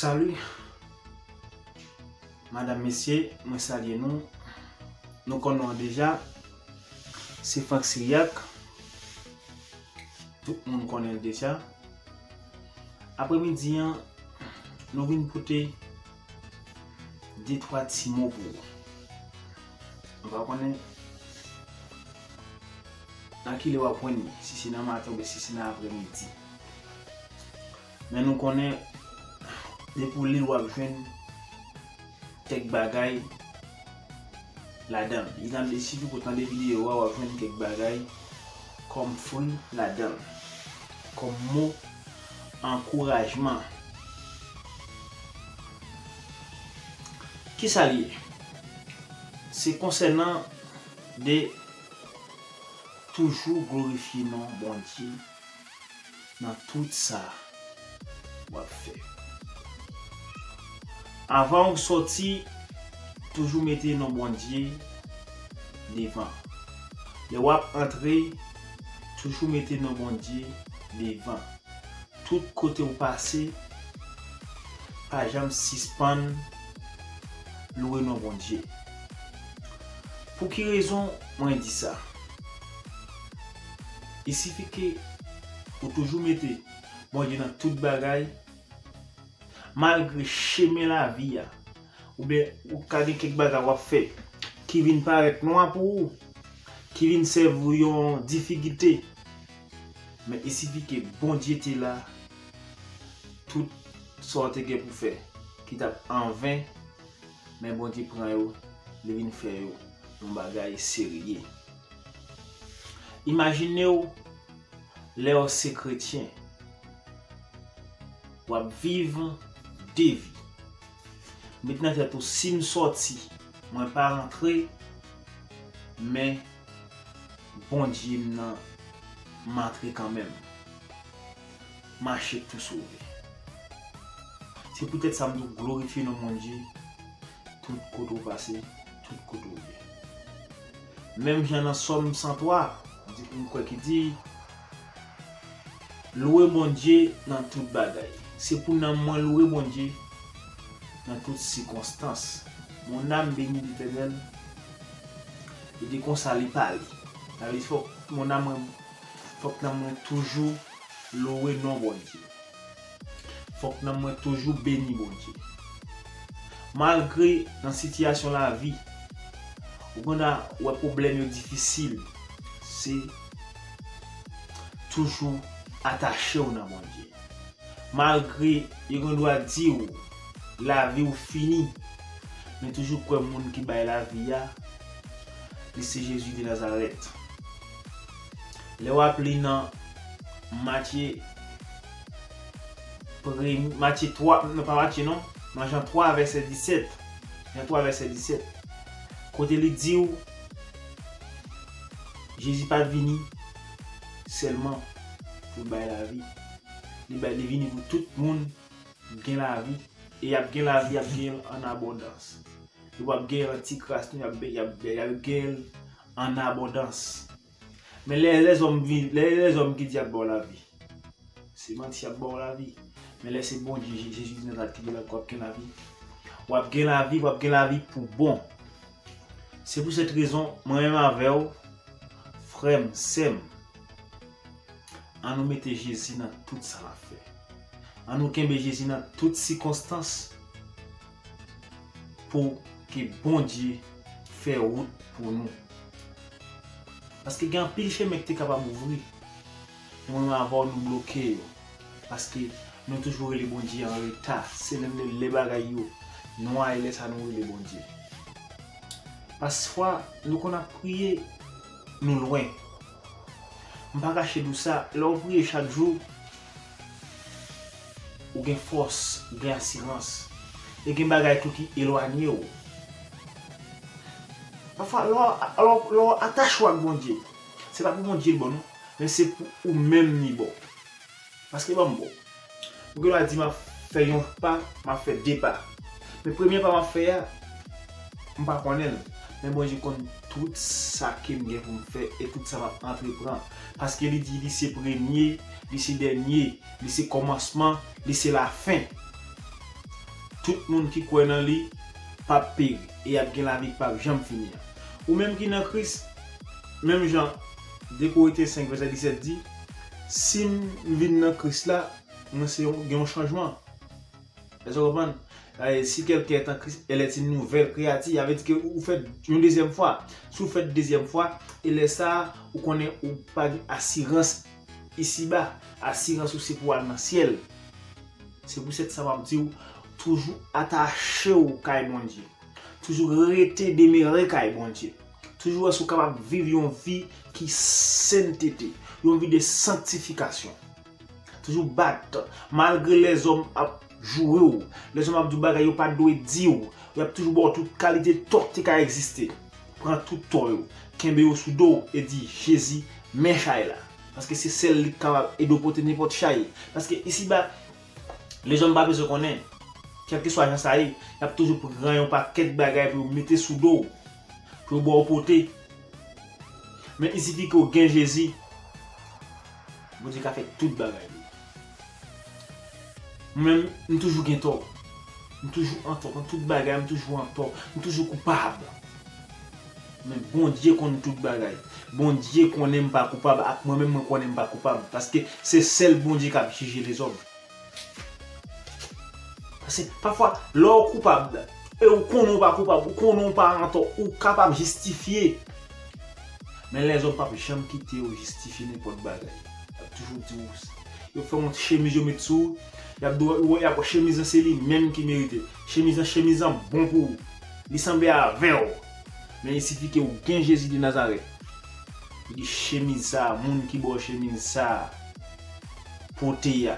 Salut Madame, Messieurs, mwen salye nou. Nou konnen deja, se Franck Syriac. Tout moun konnen deja. Apremidi an, nou vin pote De twa ti mo pou ou. Mwen pa konnen nan ki lè w ap jwenn li, si se nan maten oubyen si se nan apremidi. Men nou konnen depi w li l w ap jwenn kèk bagay ladan l. Li nan desi pou w tande videyo a w ap jwenn kèk bagay kòm fri ladan l, kòm mo. Ankourajman. Kisa li ye? Se konsènan de toujou glorifye non Bondye nan tout sa wap fè. Avan ou sòti, toujou mete non Bondye devan. Lè wap antre, Toujou mete non Bondye devan tout kote ou pase pa janm sispann louwe non Bondye pou ki rezon mwen di sa il sifi ke ou toujou mete Bondye nan tout bagay malgre chemen lavi a Oubyen ou ka gen kèk bagay w ap fè ki vin parèt nwa pou ou, ki vin sèvi w yon difigite. Men esipike Bondye te la tout sa w te gen pou fè ki t ap anven, men Bondye pran yo, li vin fè yo yon bagay serye. Imajine w lè w se kretyen, w ap viv de vi. Met nan tèt ou sim sòti mwen pa rantre men Bondye m nan m antre kanmenm mache tou sove. Se poutèt sa m di w glorifye non Bondye tout kote ou pase, tout kote ou ye. Menm jan nan sòm 103 di m kwè ki di. Louwe Bondye nan tout bagay. Se pou nanm mwen loure Bondye nan tout sikonstans. Mon âme bénit l'Éternel e de konsa li pale. Sa vle di fòk mon âme mwen fòk nanm mwen toujou louwe non Bondye. Fòk nanm mwen toujou beni Bondye. Malgre nan sitiyasyon lavi, ou konn wè pwoblèm yo difisil, se toujou atache w nan Bondye. Malgre yo gen dwa di w lavi w fini, men toujou kwè moun ki bay lavi a, li se Jezi de Nazarèt. Lè w ap li nan Matye. Premye, Matye 3, non pa Matye non, nan Jan 3 vèsè 17, Jan 3 vèsè 17, kote li di ou Jezi pa vini sèlman pou l bay lavi, li bay li vini pou tout moun gen lavi e y ap gen lavi y ap gen l an abondans. Yo p ap gen l an ti kras non y ap gen l an abondans. Men lè e lèzòm vin, lè e lèzòm ki di yap baw lavi. Se manti yap baw lavi. Men lè se Bondye Jezi Dinazaret ki di la wap gen lavi. Wap gen lavi, wap gen lavi pou bon. Se pou sèt rezon mwen menm avèw frèm, sèm an nou mete Jezi nan tout sa nap fè. An nou kenbe Jezi nan tout sikonstans. Pou ke Bondye fè wout pou nou. Paske gen anpil chemen ki te kapab ouvri. Men mwen menm avèw nou bloke yo. Paske nou toujou rele Bondye an reta. Se lè menm lè bagay yo nwa e lè sa nou rele Bondye. Pasfwa nou konn ap priye nou lwen. M pa kache nou sa, lèw priye chak jou. Ou gen fòs, ou gen asirans. E gen bagay tou ki elwanye ou. Pafwa, lè w atache w ak Bondye, se pa pou Bondye bon non, men se pou ou menm li bon. Paske ban m bon. Ou gendwa di m ap fè yon pa, m ap fè de pa. Men premye pa m ap fè a, m pa konnen l. Men Bondye konn tout sa ke m gen pou m fè e tout sa m ap antrepran. paske li di li se premye, li se dènye, li se kòmansman, li se lafen. Tout moun ki kwè nan li pap peri e y ap gen lavi ki pap janm fini an. Ou menm ki nan Kris, menm jan 2 Korentyen 5 vèsè 17 di, Si m vin nan Kris la, mwen se yon gen yon chanjman. Èske w konprann? Si kèlken èt an Kris, èl èt yn nouvèl kreyati. Sa vle di ke ou fèt yon dezyèm fwa. Si w fèt dezyèm fwa, e lè sa a, ou konnen ou pa gen asirans isi ba. Asirans ou se pou w al nan syèl. Se pou sèt sa m ap di w, toujou atache w kay Bondye. Toujou rete demere kay Bondye. Toujou wè si w kapab viv yon vi ki sentete. Yon vi de sanktifikasyon. Toujou bat, malgre lèzòm ap joure w, lèzòm ap di w bagay yo pa dwe di w, y ap toujou ba w tout kalite tò ki te ka egziste. Pran tout tò yo, kenbe yo sou do w e di, Jezi, men chay la. Paske se sèl li ki kapab ede w pote nenpòt chay. Paske isiba, lèzòm pa bezwen konnen. Kèlkeswa jan sa ye, y ap toujou pran yon pakèt bagay pou yo mete sou do w, pou yo ba w pote. Men isifike w gen Jezi. Bondye ka fè tout bagay wi. Mwen menm m toujou gen tò. M toujou antò nan tout bagay m toujou antò. M toujou koupab. Men Bondye konn tout bagay. Bondye konnen m pa koupab ak mwen menm mwen konnen m pa koupab. Paske se sèl Bondye kap jije lezòm. Paske pafwa lè ou koupab e ou konnen ou pa koupab, ou konnen ou pa antò, ou kapab jistifye. Men lèzòm p ap janm kite ou jistifye nenpòt bagay. Y ap toujou di ou, yo fè yon ti chemiz yo met sou ou, y ap di ou, y ap wè chemiz lan se li menm ki merite l. Chemiz lan, chemiz lan bon pou ou. Li sanble avè ou. Men il sifi ke ou gen Jezi de Nazarèt. Ou di chemiz sa a, moun ki ba ou chemiz sa a. pote a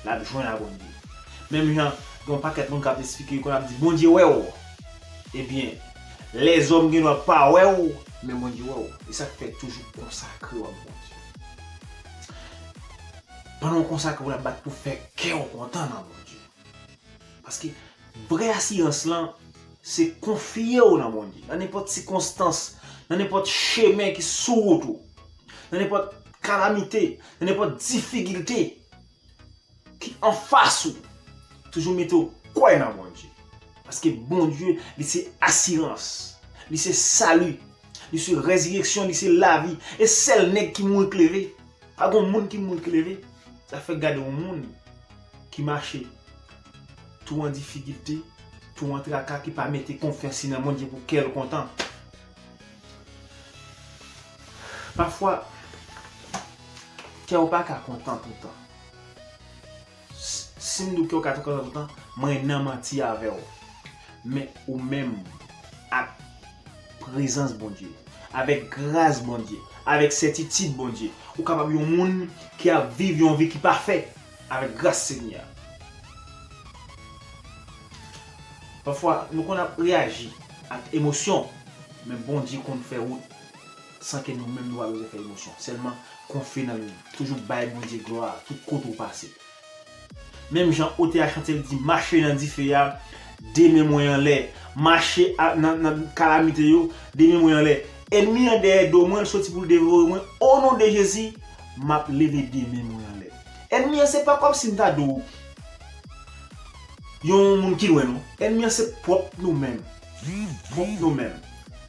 lap jwenn a Bondye menm jan gen yon pakèt moun kap esplike yo konn ap di Bondye wèw ebyen lèzòm gen dwa pa wèw men Bondye wèw esak fè toujou konsakrew ak Bondye pandan ou konsakre ou la bat pou fè kèw kontan nan Bondye. Paske, vrè asirans lan, se konfye ou nan Bondye. Nan nenpòt sikonstans, nan nenpòt chemen ki sou wout ou, nan nenpòt kalamite, nan nenpòt difikilte ki anfas ou, toujou mete ou kwè nan Bondye. Paske Bondye, li se asirans, li se sali, li se rezireksyon, li se lavi. E sèl nèg ki mouri k leve. Pa gon moun ki mouri k leve. Sa fè gade yon moun. ki mache tou an difikilte, tou an traka, ki pa mete konfyans li nan Bondye pou kè l kontan. Pafwa, kè w pa ka kontan toutan. Si m di w kè w ka kontan toutan, mwen nan manti avè w. Men, ou menm, ak prezans Bondye, avèk gras Bondye, avèk sètitid Bondye, ou kapab yon moun ki ap viv yon vi ki pafè. Avèk gras Senyè a. Pafwa nou konn ap reyaji ak emosyon, men Bondye konn fè wout san ke nou menm nou pa bezwen fè emosyon. Sèlman konfye nanm nou. Toujou bay Bondye glwa tout kote ou pase. Menm jan otè a chante li di mache nan dife a, 2 men mwen anlè. Mache nan kalamite yo, 2 men mwen anlè. Ènmi an dèyè do mwen, l soti pou l devore mwen. O non de Jezi, map leve de men mwen anlè. Ènmi an se pa kòmsi m ta di w yon moun ki lwen non. Ènmi an se pwòp nou menm. Pwòp nou menm.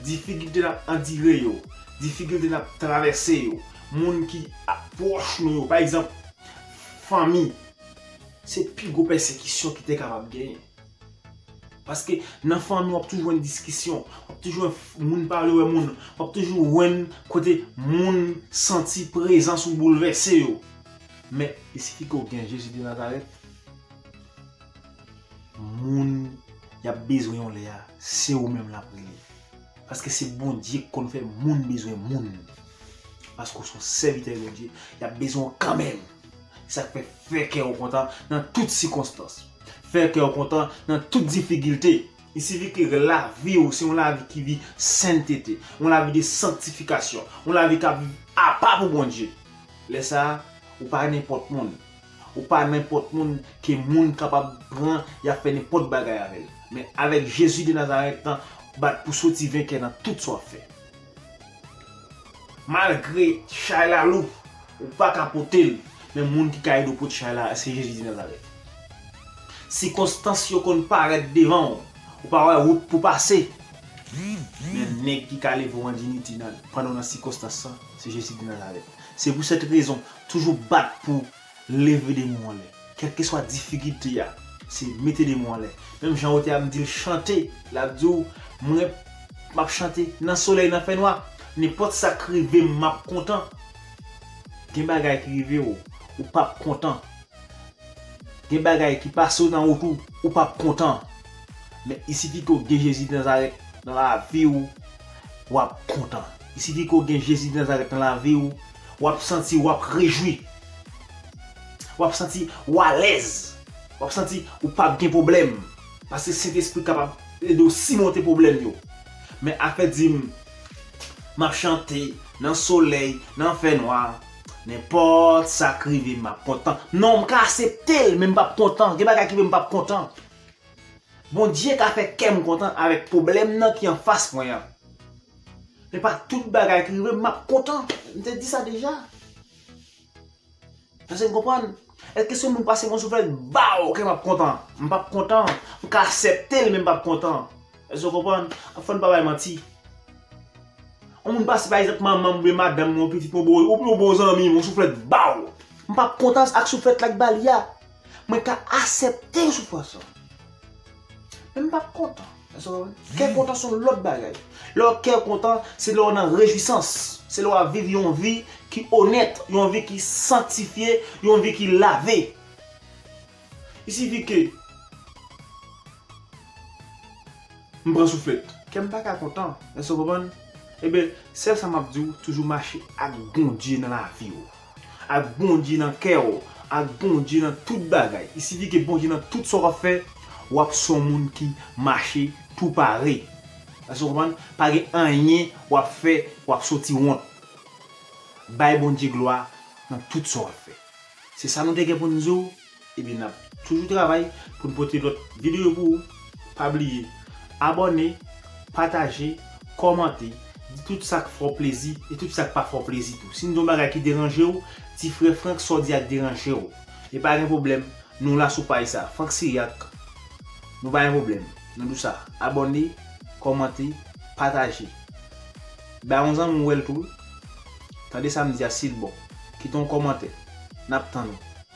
Difikilte n ap andire yo, difikilte n ap travèse yo, moun ki pwòch nou yo. Pa egzanp, fanmi se pi gwo pèsekisyon ki te kapab genyen. Paske nan fanmi wap toujou jwenn diskisyon, wap toujou jwenn moun pa vle wè moun, wap toujou jwenn kote moun santi prezans ou boulvèse yo. Men, li sifi ke w gen Jezi de Nazarèt, moun yap bezwen yon lè a, se ou menm lap rele. Paske se Bondye ki konn fè moun bezwen moun. Paske w se yon sèvitè Bondye, yap bezwen w kanmenm. Se sa k fè, fè kè w kontan nan tout sikonstans. Fè kè w kontan nan tout difigilte. Li sifi ke lavi w se yon lavi ki vi sentete, yon lavi de sanktifikasyon, yon lavi k ap viv apa pou Bondye. Lè sa a, ou pa nenpòt moun. Ou pa nenpòt moun ke moun kapab pran y ap fè nenpòt bagay avè l. Men avèk Jezi de Nazarèt lan, bat pou soti venkè nan tout sa w ap fè. Malgre chay la lou, ou pa ka pote l, men moun ki ka ede w pote chay la, se Jezi di Nazarèt. Sikonstans yo konn parèt devan w, ou pa wè wout pou pase, men nèg ki ka leve w an diniti pandan w nan sikonstans lan, se Jezi de Nazarèt. Se pou sèt rezon, toujou bat pou Leve de mou anlè. Kèlkeswa difikilte a, se mete de mou anlè. Menm jan ou te ap di l chante, l ap di w, mwen, m ap chante nan solèy nan fènwa. Nenpòt sa k rive m, m ap kontan. Gen bagay ki rive w, ou p ap kontan. Gen bagay ki pase w nan wout ou, ou p ap kontan. Men isifi ke w gen Jezi Denazarèt nan lavi w, w ap kontan. Isifi ke w gen Jezi Denazarèt nan lavi w, W ap santi w ap rejwi. W ap santi ou alèz. W ap santi ou pap gen pwoblèm. Paske Sentespri kapab ede w simonte pwoblèm yo. Men afè di m m ap chante nan solèy, nan fènwa, nenpòt sa k rive m ap kontan. Non, m ka asepte l men m pap kontan. Gen bagay ki fè m pap kontan. Bondye ka fè kè m kontan avèk pwoblèm nan ki anfas mwen an. E pa tout bagay ki rive m map kontan. M te di sa deja. Èske n konprann? Èske si moun pase bon sou fèy baw ke map kontan? M pap kontan. M ka asèpte l men m pap kontan. Èske w konprann? Fò n pa bay manti. On moun pase pa egzanp manman m oubyen madanm m oubyen pitit m oubyen yon bon zanmi m yon souflèt baw. M pap kontan ak souflèt la k ba li a. Mwen ka asepte yon soufrans lan. Men m pap kontan. Èske w konprann? Kè kontan son lòt bagay. Lè w kè w kontan, se lè w nan rejwisans. Se lè w ap viv yon vi ki onèt, yon vi ki sanktifye, yon vi ki lave. Il sifi ke m pran souflèt. Kè m pa ka kontan. Èske w konprann? Eben, sèl sa m ap di w, toujou mache ak Bondye nan lavi w. Ak Bondye nan kè w. Ak Bondye nan tout bagay. I sifi ke Bondye nan tout sa w ap fè, w ap son moun ki mache tou pare. Èske w konprann? Pa gen anyen w ap fè w ap soti wont. Bay Bondye glwa nan tout sa w ap fè. Se sa nou te gen pou n di w. Ebyen nap toujou travay pou n pote lòt videyo pou ou. Pa bliye abòne, pataje, kòmante, di tout sa k fè w plezi e tout sa k pa fè w plezi tou. Si n di yon bagay ki deranje w, di Frè Franck sa w di a deranje w. E pa gen pwoblèm, nou la sou paj sa, Franck Siriac. Nou pa gen pwoblèm, nou di w sa. Abòne, kòmante, pataje. Bay yon zanmi w wè l tou. Tande sa m di a si l bon. Kite yon kòmantè. Nap tann ou.